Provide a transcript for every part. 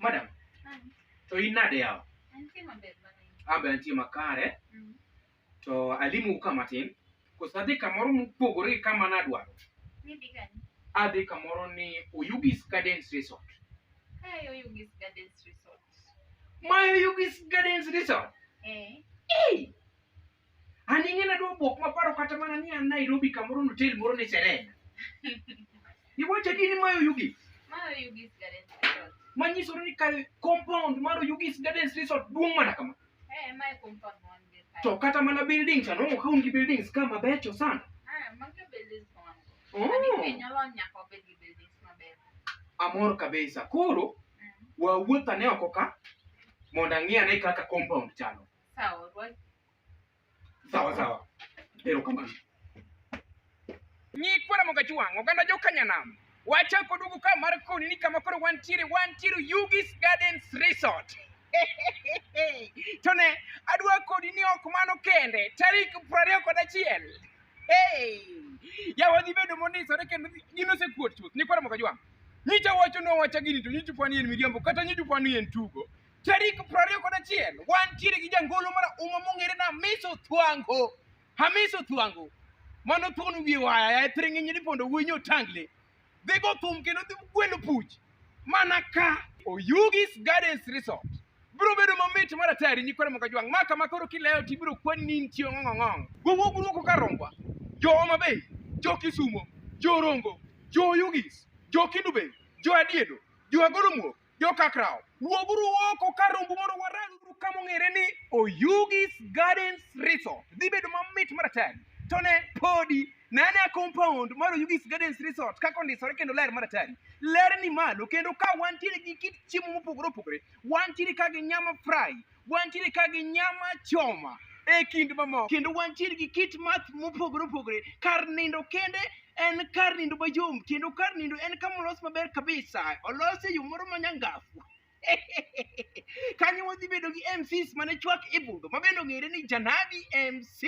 Madam, to in nade yawa? Antie maber mana in. Ambe antie makare, Mm. to alimu ka matin. Koso adhi kamoro mopogore gi kama nadwaro. Midhi kanye? Adhi kamoro ni Oyugis Gardens Resort. Kae Oyugis Gardens Resort. My Oyugis Gardens Resort. Eh, Hey! An ing'ena dwa bwok maparo kata mana ni an Nairobi kamoro notel moro ni Serena. Iwacho ni ma Oyugis. Ma Oyugis Garden Resort. Ma nyisore ni kar compound mar Oyugis Garden Resort duong' mana kama. Eh, ma compound mon gi. To kata mana buildings ano mo kaun gi buildings kama becho sana. Ah, ma ke buildings mon. Oh. Ani nyalo nyako bed gi buildings maber. Amor kabisa. Koro mm. wawuotha ne oko ka mondo ang'iane kaka compound chalo. Sawa, Ruai. Sawa sawa. Erokamano. Nyikwa Ramogi Ajwang', oganda jo Kanyanam. Wachako duogo ka mar koni ni kama koro wantiere, wantiere Yugi's Gardens Resort. to ne, adwa kodi ni ok mano kende, tarik prariyo kod achiel. Hey! Yawa dhi bedo mondisore kendo gin osekuot chuth. Nyikwa Ramogi Ajwang', nyicha wacho nowacha gini to nyicha upani en miriambo kata nyicha upani en tugo. Tarik prariyo kod achiel wantiere gi jangolo mar uma mong'ere na Hamiso Thwango. Hamiso Thwango mano thuon wiye waya ya thiring'inyi ni pondo wuoyi otangle. Dhi go thum kendo dhi gwelo puch mana ka Oyugis Gardens Resort. Bro bedo mamit mar atari nyikwara moka jwang' ma kama koro kilewo to ibiro kwan ni nitie ng'ong'ong'ong. Gogo guruoko ka rombwa. Jo Homa Bay, jo Kisumo, jo Rongo, jo Oyugis, jo Kindu Bay, jo Adiedo, jo Agoro Muok, Jokakrawo, wuoguru oko kar rombu mondo waranguru ka mong'ere ni Oyugis Gardens Resort. Dhi bedo mamit maratari. To ne podi, ne ane compound mar Oyugis Gardens Resort kaka ondisore kendo ler maratari. Ler ni malo kendo ka wantiere gi kit chiemo mopogore opogore, wantiere ka gi nyama fry, Wantiere ka gi nyama choma e kind mamoko kendo wantiere gi kit math mopogore opogore kar nindo kende en kar nindo mayom kendo kar nindo en kama olos maber kabisa olos e yo moro manyangafu kanyo wadhi bedo gi mcs mane chwak e budho ma bende ong'ere ni janabi mc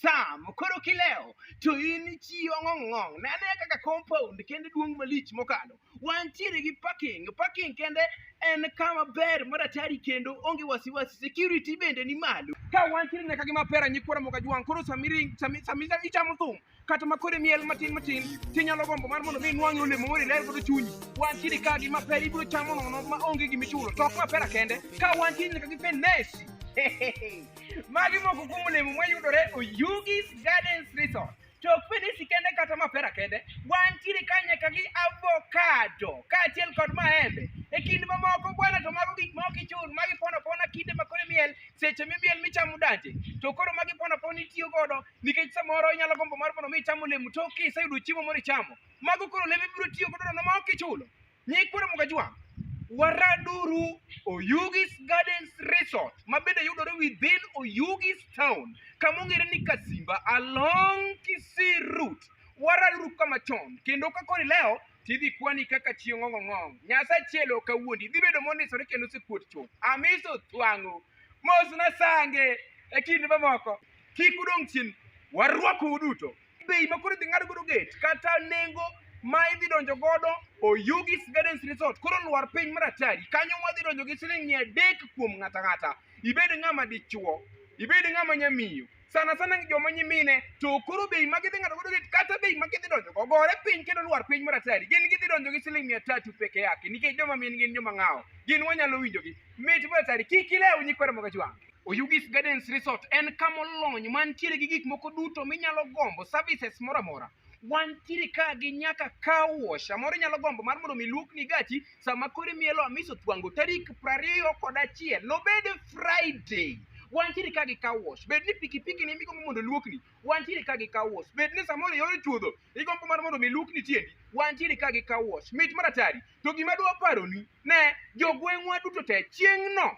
sam koro kilewo to in chiyo ng'ong'ong' ne anea kaka compound kendo duong' malich mokalo Wantiere gi parking. Parking kende en kama ber maratari kendo onge wasiwasi. Security bende ni malo. Ka wantiere nyaka gi mapera nyikwara moka jwang' koro samiri sami sami sami chamo thum kata makore miel matin matin tinyalo gombo mar mondo mi inwang'e olemo moro iler godo chunyi. Wantiere ka gi mapera ibiro chamo nono ma onge gimichulo. To ok mapera kende. Ka wantiere nyaka gi fenesi. Magi moko kuom olemo mayudore Oyugis Gardens Resort. to ok fedesi kende kata mapera kende, wantiere ka nyaka gi avocado kaachiel kod maembe. E kind mamoko bwana to mago gik ma ok ichul, ma gipono pona kinde ma koro imiel, seche mimiel michamo danje. To koro ma gipono pona itiyo godo nikech samoro inyalo gombo mar mondo mi icham olemo to kiseyudo chiemo moro ichamo. Mago koro olembe ibiro tiyo godo nono ma ok ichulo. Nyikwere Mugajwa, Waraduru Oyugis Gardens Resort ma bende yudore within Oyugis town kama ong'ere ni Kasimba along Kisii route. Waraduru kama chon kendo ka kori leo tidhi kwani kaka chieng' ong'o ng'ong'. Nyasaye chielo kawuondi idhi bedo mondisore kendo osekuot chuth. Amiso twang'o mos na sange e kinde mamoko kik udong' chien warwakou duto. bei ma koro idhi ng'ad godo gate kata nengo ma idhi donjo godo Oyugis Gardens Resort koro lwar piny mar atari kanyo wadhi donjo gi siling mia adek kuom ng'ata ng'ata ibed ng'ama dichuo ibed ng'ama nyamiyo sana sana joma nyimine to koro bei ma gidhi ng'ado godo gate kata bei ma gidhi donjo go gore piny kendo lwar piny mar atari gin gidhi donjo gi siling mia tatu peke yake nikech joma min gin joma ng'awo gin wanyalo winjogi mit mar atari kik ilew nyikwara moga jwang' Oyugis Gardens Resort en kama olony mantiere gi gik moko duto minyalo gombo, services moro amora. Wantiere ka gi nyaka car wash, samoro inyalo gombo mar mondo mi luokni gachi sama koro imielo Hamisi Otwango tarik prariyo kod achiel, nobed Friday. Wantiere ka gi car wash, bed ni pikipiki ni migombo mondo luokni, wantiere ka gi car wash. Bed ni samoro iol chuodho, igombo mar mondo mi luokni tiendi, wantiere ka gi car wash. Mit maratari. To gima dwa paroni, ne jogweng'wa duto te chieng'no